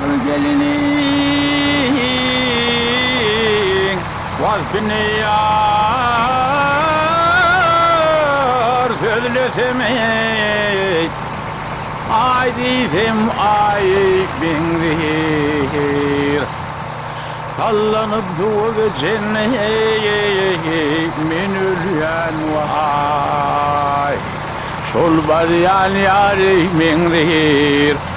Gül geliniň wagtyny ýar sözlesem eý, Aý diýsem aý meňzeýär. Sallanyp suwa geçen men ölýän waý, Şol barýan ýary meňzeýär.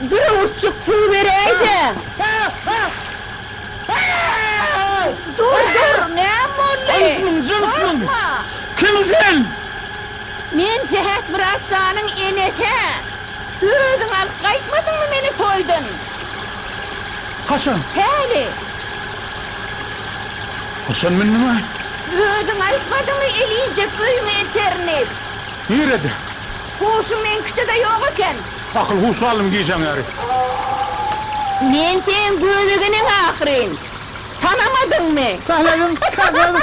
Bir öwürtjik suw beräýse. Dur, dur, näme boldy? Gorkma! Kim sen? Men Sähet Myratjanyň enesi-ä. Özüň alyp gaýtmadyňmy meni toýdan? Haçan? Häli. Haçan mündüm-ä? Özüň aýtmadyňmy elinjek öýüň eterini? Nirede? Huşuň meňkiçe-de ýok eken. Akyl huş galdym gijäň ýary. Men seň gözegeneň ahyryn. Tanamadyňmy? Tanadym tanadym.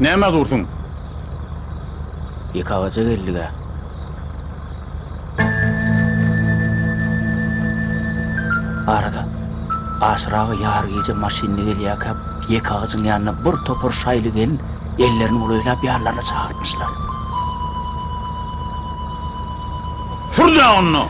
Näme dursuň? Ýeke agaja geldik-ä. Arada, aşyraga ýary gije maşynly gelýärkä ýeke agajyň ýanyna bir topar şaýly gelin ellerini bulaýlap ýanlaryna çagyrtmyşlar. Sür-dä onda!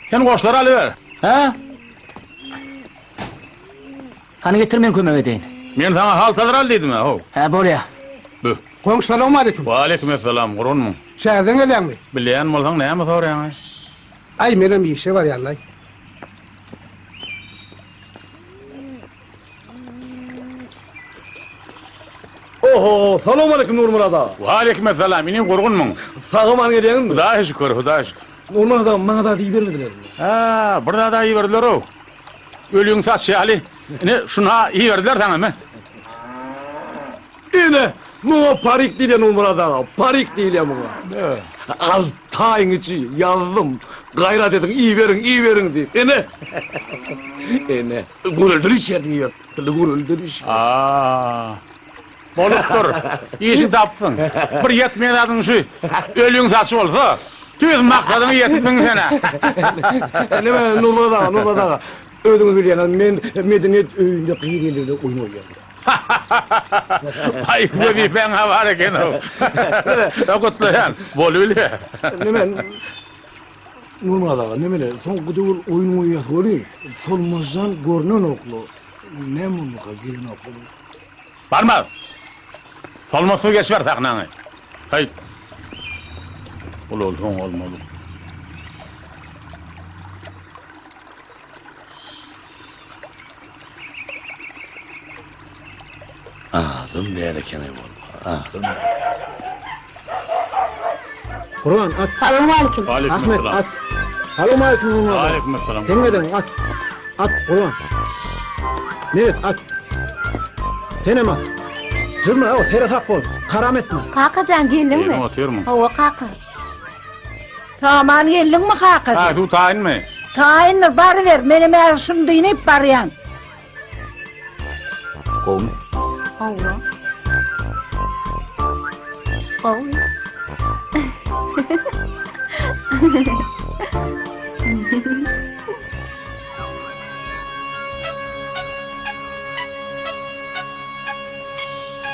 Sen goşlary alyber. Ha? Hany getir men kömek edeýin. Men sana haltalar al dedim ha. Ha bolýa. Bu. Goň salam aleyküm. Wa aleyküm assalam. Gurunmy? Şäherden gelýäňmi? Bilýän bolsaň näme soraýaň? Ay menem işe barýan ay. Oho, salam aleyküm Nurmyrat aga. Wa aleyküm assalam, inim gurgunmyň? Sag aman gelýäňizmi? Hudaýa şükür, Hudaýa şükür. Nurmyrat aga, maňa zat iýibermediler. Ha, bir zat iýiberdiler-ow. Öliň saçy ýaly. Ine, şuny-ha iýiberdiler saňa, me. Ine, muňa parik diýlenmi, Myrat aga? Parik diýilýär muňa. Alty aýyň içi ýazdym. Gaýrat ediň, iberiň, iberiň diýip. Ene! Ene! Göreldeliş ýerine ýertdi, göreldeliş. A-a-a! Bolupdyr. Işi tapdyň. Bir ýetmeýän zadyň şu. Ölüň saçy bolsa, tüýs maksadyňa ýetipsiň sen-ä. Näme, Nurmyrat aga, Nurmyrat aga, özüňiz bilýäňiz, men medeniýet öýünde gyz ýelleri bilen oýun oýnaýaryn. Hahahaha! Aý, wezipäň-ä bar eken-ow. Gutlaýan. Bolubile. Neme, Nurmyrat aga, neme-le, soňky döwür oýun goýýasy welin, Solmazjan görnenok-la. Näme boldukka, gelenok-la bu? Barma! Solmaz suw geçiber sahnaňy. Haý! Ol-ol oň bolmaly. Azym däl ekeni bul. Azym. Guran at. Salowmaleýkim. Ahmet at. Salowmaleýkim Gurban. Aleýkum assalam. Sen neden at? At Gurban. Meret at. Senem at. Jyzma o sere sap bol. Karam etme. Kakajan geldiňmi? Geldim, otyrmyň. Hawa kaka. Saman geldiňmi kaka? Ha, şu taýynmy? Taýyndyr, baryber. Men hem äri şuny dynyp barýan. Gowmy? Gowy. Gowy.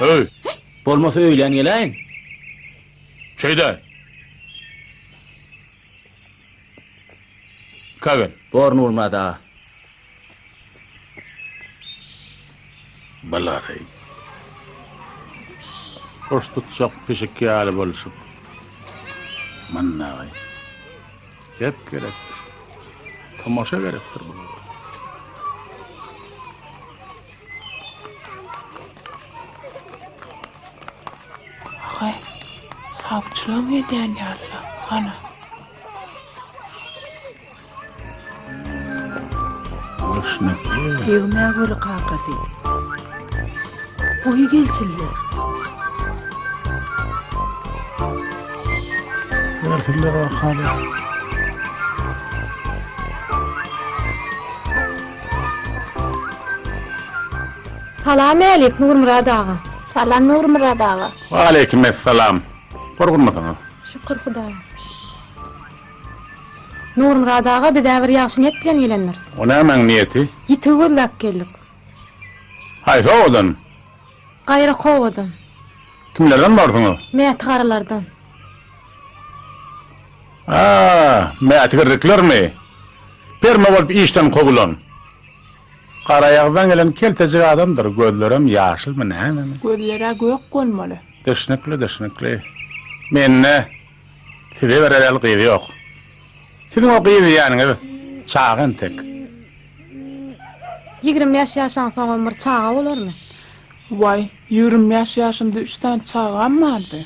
Öý! Bolmasa öýlän geläýiň. Şeýde. Kagen. Bor Nurmyrat aga. Balareý. Goş tutjak pişik ýaly bolşup. Mannaý. Gep gerek. Tomaşa gerekdir bulara. Aga, sawçylaň edýän ýaly-la, hana. Egmä göre kakasy. Goý gelsinler. Gelsinler, aga, hany. Salam älik Nurmyrat aga. Salam Nurmyrat aga. Waleýkim essalam. Gurgunmysyňyz. Şükür Hudaýa. Nurmyrat aga bizä bir ýagşy niýet bilen gelendiris. O nämäň niýeti? Ýitigi gözläp geldik. Haýsy obadan? Gaýrak obadan. Kimlerden barsyňyz? Mäti garylardan. A, mätgirriklermi? Perma bolup işden kowulan. Garaýagyzdan gelen keltejik adamdyr, gözlerem ýaşylmy nämemi? Gözler-ä gök bolmaly. Düşnükli, düşnükli. Mende size bererel gyz ýok. Siziň o gyz diýýäniňiz çaga entek. Ýigrimi bäş ýaşaň soňam bir çaga bolarmy? Waý, ýigrimi bäş ýaşymda üç sany çagam bardy.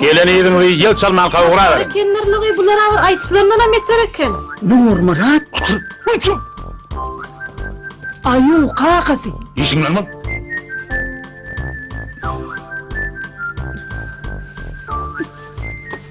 Gelen yzyňyzy ýel çalmanka ugraberin. Ekenler nogy bulara bir aýytyslandanam beter eken. Nurmyrat aýuw kakasy. Işiň bilen bol.